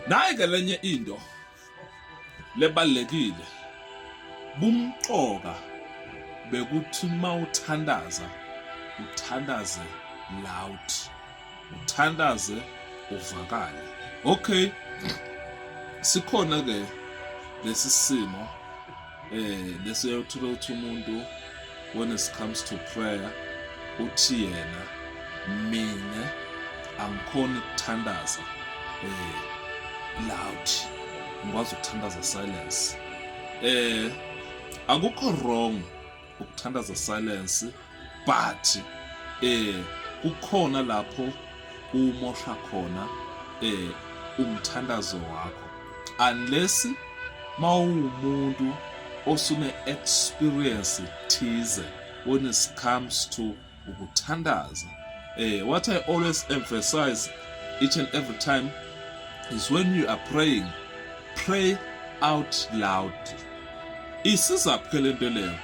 Naye ke lenye into lebalekile bumqoka bekuthi mawuthandaza uthandaze loud uthandaze uvakale okay sikhona ke lesi simo eh bese uyothola ukuthi umuntu when it comes to prayer uthi yena mina angikhona ukuthandaza eh loud ngikwazi ukuthandaza silence eh akukho wrong ukuthandaza silence but eh kukhona lapho umosha khona eh umthandazo wakho unless mawumuntu osune experience thize when it comes to ukuthandaza eh what i always emphasize each and every time is when you are praying pray out loud isiza phela lento leyo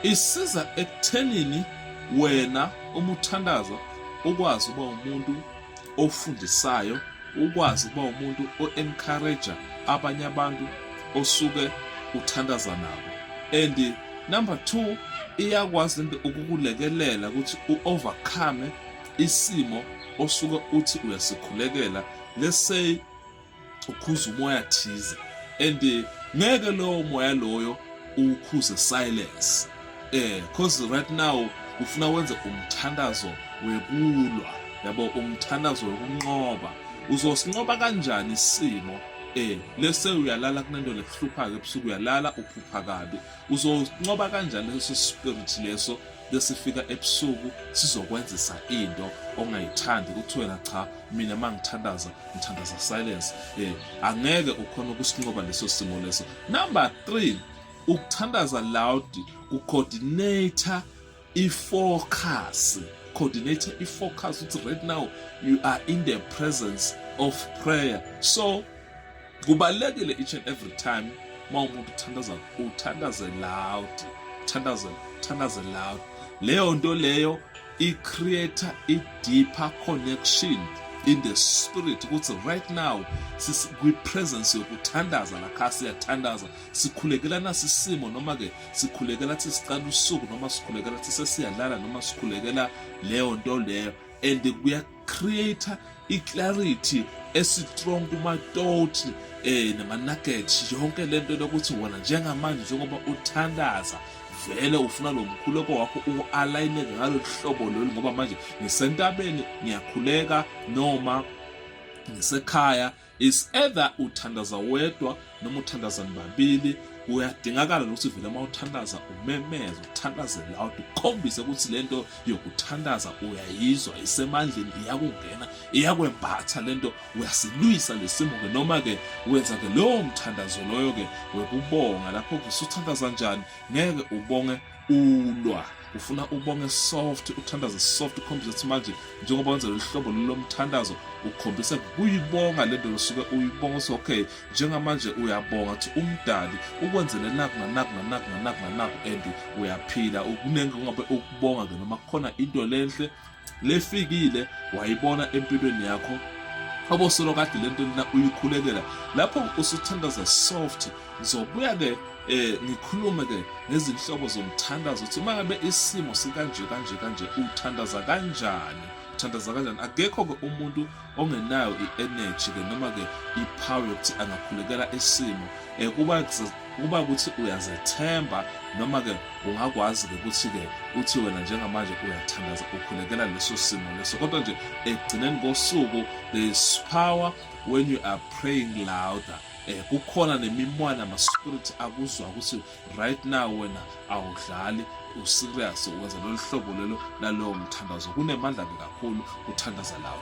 isiza ekuthenini wena uma uthandaza ukwazi uba umuntu ofundisayo ukwazi ukuba umuntu o-encourager abanye abantu osuke uthandaza nabo and number two iyakwazi into ukukulekelela ukuthi u-overcome isimo osuke uthi uyasikhulekela let's say ukhuza umoya thize and eh, ngeke lowo moya loyo ukhuze silence eh cause right now ufuna wenze umthandazo wekulwa yabo umthandazo wokunqoba uzosinqoba kanjani isimo eh lese uyalala kunento lekuhlupha ke ebusuku uyalala uphupha kabi uzosinqoba kanjani leso spirit leso bese fika ebusuku sizokwenzisa into ongayithandi ukuthi wena cha mina mangithandaza ngithandaza silence eh angeke ukhona ukusinqoba leso simo leso number 3 ukuthandaza loud ku coordinator i focus coordinator i focus ukuthi right now you are in the presence of prayer so Kubalulekile each and every time uma umuntu uthandaza uthandaze loud, thandaze thandaze loud. Leyo nto leyo i create a deeper connection in the spirit ukuthi right now kwi-presence yokuthandaza lakha siyathandaza sikhulekelana sisimo noma-ke sikhulekela thi siqala usuku noma sikhulekela thi sesiyalala noma sikhulekela leyo nto leyo and creator i-clarity esitrong kumatoti um eh, nama-nuggets yonke le nto lokuthi wona njengamanje njengoba uthandaza vele ufuna lo mkhuleko wakho uwu-alayine ngalolu hlobo lolu ngoba manje ngisentabeni ngiyakhuleka noma ngisekhaya is either uthandaza wedwa noma uthandaza nibabili uyadingakala ukuthi vele uma uthandaza umemeze uthandaze loud ukhombise ukuthi lento yokuthandaza uyayizwa isemandleni iyakungena iyakwembatha lento uyasilwisa lesimo ke noma ke wenza ke lowo mthandazo loyo ke wekubonga lapho kusuthandaza njani ngeke ubonge ulwa ufuna ubonge soft uthandaze soft ukhombise ukuthi manje njengoba wenza lolu hlobo lomthandazo ukhombise kuyibonga le nto usuke uyibonga ukuthi okay njengamanje uyabonga ukuthi umdali ukwenzele naku nanaku nanaku nanaku nanaku and uyaphila kuningi kungabe ukubonga ke noma kukhona into lenhle lefikile wayibona empilweni yakho obosolo kade lento lena uyikhulekela lapho usuthandaza soft ngizobuya ke eh ngikhulume ke nezinhlobo zomthandazo ukuthi uma ngabe isimo sikanje kanje kanje uthandaza kanjani uthandaza kanjani akekho ke umuntu ongenayo i-energy ke noma ke i-power yokuthi angakhulekela isimo um kuba kuba ukuthi uyazethemba noma ke ungakwazi ke ukuthi ke uthi wena njengamanje uyathandaza ukhulekela leso simo leso kodwa nje ekugcineni kosuku there is power when you are praying louder eh kukhona nemimwana ama spirit akuzwa ukuthi right now wena awudlali userious wenza lolu hlobo lelo lalowo mthandazo kunemandla ke kakhulu kuthandaza lawo